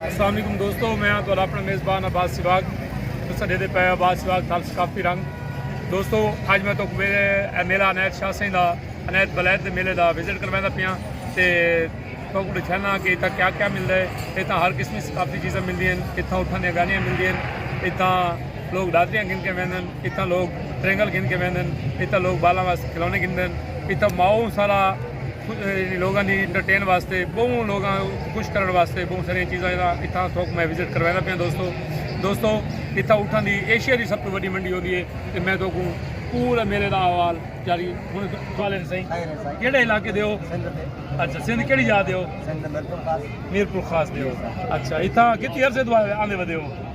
السلام علیکم دوستو میں ہاں تہاڈا اپنا میزبان عباس سواگ تساں ڈیدے پے عباس سواگ تھال ثقافتی رنگ دوستو اج میں تو میرے میلہ عنایت شاہ سائیں دا عنایت بلید دے میلے دا وزٹ کرویندا پیاں تے تو کو دکھانا کہ اتھا کیا کیا ملدا ہے اتھا ہر قسم دی ثقافتی چیزاں ملدی ہیں اتھا اٹھن دی گاڑیاں ملدی ہیں اتھا لوگ ڈادریاں گھن کے ویندن اتھاں لوک ترنگل گھن کے ویندن اتھاں لوک بالاں واسطے کھلونے گھندن اتھاں ماؤں سارا لوگاں دی انٹرٹین واسطے بہوں لوگاں خوش کرن واسطے بہوں ساری چیزاں اتھاں تھوک میں وزٹ کرویندا پیاں دوستو دوستو اتھاں اٹھاں دی ایشیا دی سب تو وڈی منڈی ہوندی ہے تے میں تو کو پورا میلے دا احوال جاری ہن سوال ہے سائیں کیڑے علاقے دے ہو اچھا سندھ کیڑی جا دے ہو میرپور خاص دے ہو اچھا اتھاں کتنی عرصے تو آندے ودے ہو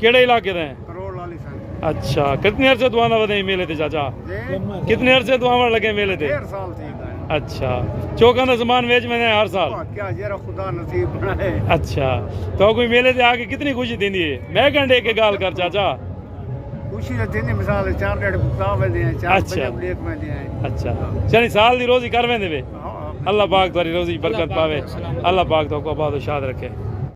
کیڑے علاقے دے اچھا کتنے عرصے تو آنا ودے میلے تے چاچا کتنے عرصے تو آوان لگے میلے تے اچھا چوکاں دا زمان ویچ میں ہر سال اچھا تو کوئی میلے تے آکے کتنی خوشی دین دیئے میں گھنڈے کے گال کر چاچا خوشی دین دیئے مثال چار ڈیڑھ بکتا ہوئے دیئے چار بجے بلیک میں دیئے اچھا چلی سال دی روزی کر میں دیئے اللہ پاک دواری روزی برکت پاوے اللہ پاک تو کو آباد و شاد رکھے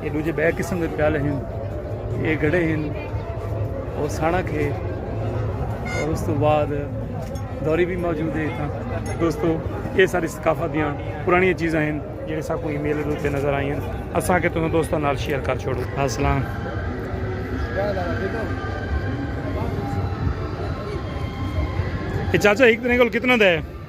اے ڈوجھے بئے قسم دے پیالے ہن۔ اے گھڑے ہن۔ او سانڑک ہے۔ اور اس توں بعد دوری بھی موجود ہے اتھاں۔ دوستو اے ساری ثقافت دیاں پرانیاں چیزاں ہن جیڑھے ساکوں ایں میلے دے اتے نظر آئیاں۔ اساں آکھیا تساں دوستاں نال شیئر کر چھوڑوں۔ السلام۔ اے چاچا ہک ترے کول کتنا دا ہے؟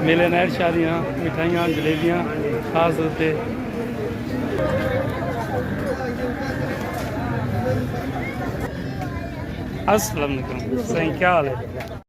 میلے نائر شادیاں مٹھائیاں جلیبیاں خاص ہوتے السلام علیکم سائیں کیا حال ہے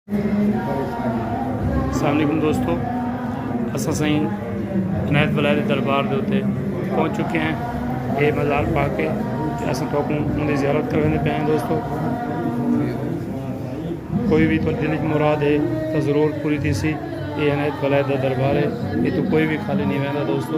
السلام علیکم دوستو اساں سائیں عنایت بلائے دے دربار دے اتے پہنچ چکے ہیں اے مزار پا کے اساں تو کو ان دی زیارت کرنے دے پہنے دوستو کوئی بھی تو دل کی مراد ہے تو ضرور پوری تھی سی اے عنایت بلائے دے دربار ہے اے تو کوئی بھی خالی نہیں ویندہ دوستو